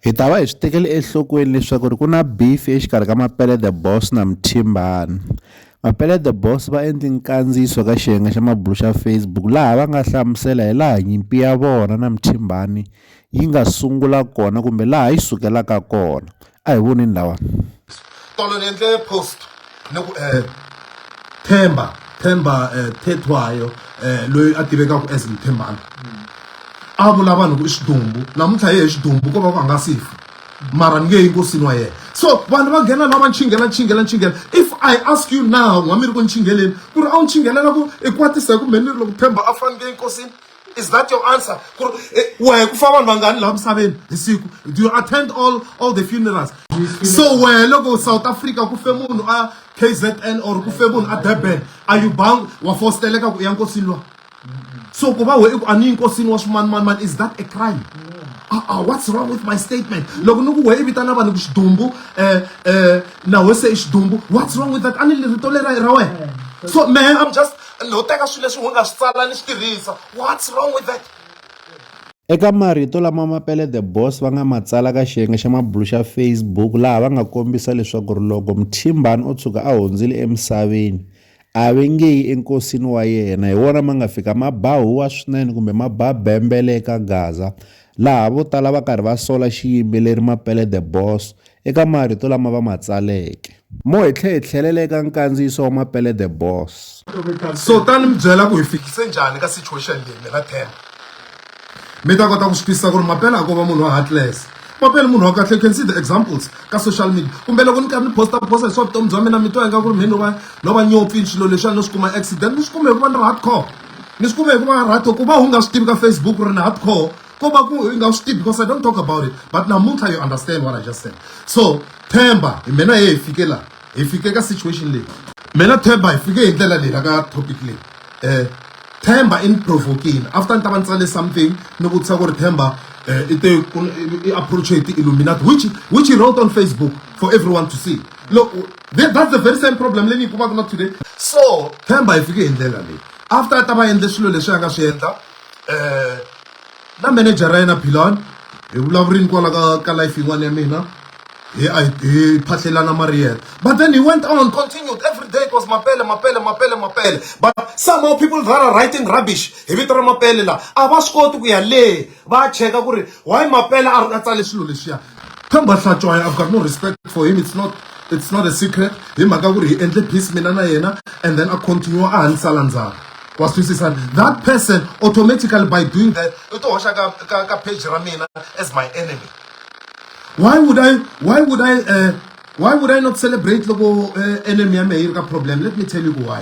Hi ta va hi swi tekele enhlokweni leswaku ri ku na beef exikarhi ka Mapele the Boss na Mthimbani. Mapele the Boss va endli nkandziyiso ka xiyenge xa mabulu xa Facebook laha va nga hlamusela hi laha nyimpi ya vona na Mthimbani yi nga sungula kona kumbe laha yi sukelaka kona. a hi voneni lawani tolo ni endle post ni ku eh, themba themba eh, thetwayo eh, loyi a tivekaka as mthembana a vula vanhu ku i xidumbu namuntlha yehe xidumbu ko va ku a nga sifa mara ni nge yi nkosini wa yena so vanhu va nghena lava nchingela nchingela nchingela if i ask you now n'wa mi ri ku nchingeleni ku ri a wu nchingelela ku i kwatisa hi kumbe ni ri loko themba a fanekele nkosini is that your answer ku ri eh, wehe ku fa vanhu vangani laha misaveni hi siku do you attend all all the funerals so wehe loko south africa ku fe munhu a kzn or ku fe munhu a durban are you bound wa fosteleka ku ya nkosini lwa so ku va we i ku a ni nkosini wa swimanimanimani is that a crime uh-uh, what's wrong with my statement loko ni ku we i vitana vanhu ku xidumbu um eh, um eh, na wese i xidumbu what's wrong with that a ni rito lera ra wena so mehe i'm just no teka swilo leswi u nga swi tsala ni swi tirhisa what's wrong with that Eka marito lama Mapele the Boss va nga ma tsala ka xiyenge xa mabulu xa Facebook laha va nga kombisa leswaku ri loko Mthimbani o tshuka a hundzile emisaveni a ve nge yi enkosini wa yena hi wona ma nga fika ma ba huwa swinene kumbe ma ba bembele eka Gaza laha vo tala va karhi va sola xiyimbeleri Mapele The Boss eka marito lama va ma tsaleke. Mo hi tlhe hi tlhelela eka nkandziyiso wa Mapele The Boss. So ta ni mi byela ku hi fikise njhani ka situation leyi mina ten mi ta kota ku swi twisisa ku ri Mapele a ko va munhu wa heartless Mapele munhu wa kahle you can see the examples ka social media kumbe loko ni karhi ni posta posta hi swa vutomi bya mina mi twa ingaku ri mhe no va no va nyopfi swilo leswiya no swi kuma accident ni swi kume hikuva ni ri hardcore. ni swi kume hi ku va right ku va u nga swi tivi ka facebook ri na hardcore ko va ku i nga swi tivi because i don't talk about it but namuntlha you understand what i just said so themba hi mina ye hi fike laha hi fike ka situation leyi mina themba hi fike hi ndlela leyi la ka topic leyi um themba i ni provokile after ni ta va ni tsale something ni vutisa ku ri themba um i te i approache hi ti-illuminati which which he wrote on facebook for everyone to see loko That, that's the very same problem leyi ni yi kumaka na today so themba hi fike hi ndlela leyi after a ta va endle swilo leswi a nga swi endla um na manager ra yena bilon hi vulavurini kwala ka ka life yin'wana ya mina hi a hi phahlelana mariyela but then he went on continued every day it was mapele mapele mapele mapele but somehow people that are writing rubbish hi vito ra mapele laha a va swi koti ku ya le va ya cheka ku ri why mapela a a tsale swilo leswiya themba hlatshwayo i've got no respect for him it's not it's not a secret hi mhaka ku ri hi endle peace mina na yena and then a continue a ha ni sala ndzhaku wa twisisa that person automatically by doing that u ti hoxa ka ka ka page ra mina as my enemy why would i why would i uh, why would i not celebrate loko uh, enemy ya mehe yi ri ka problem let me tell you why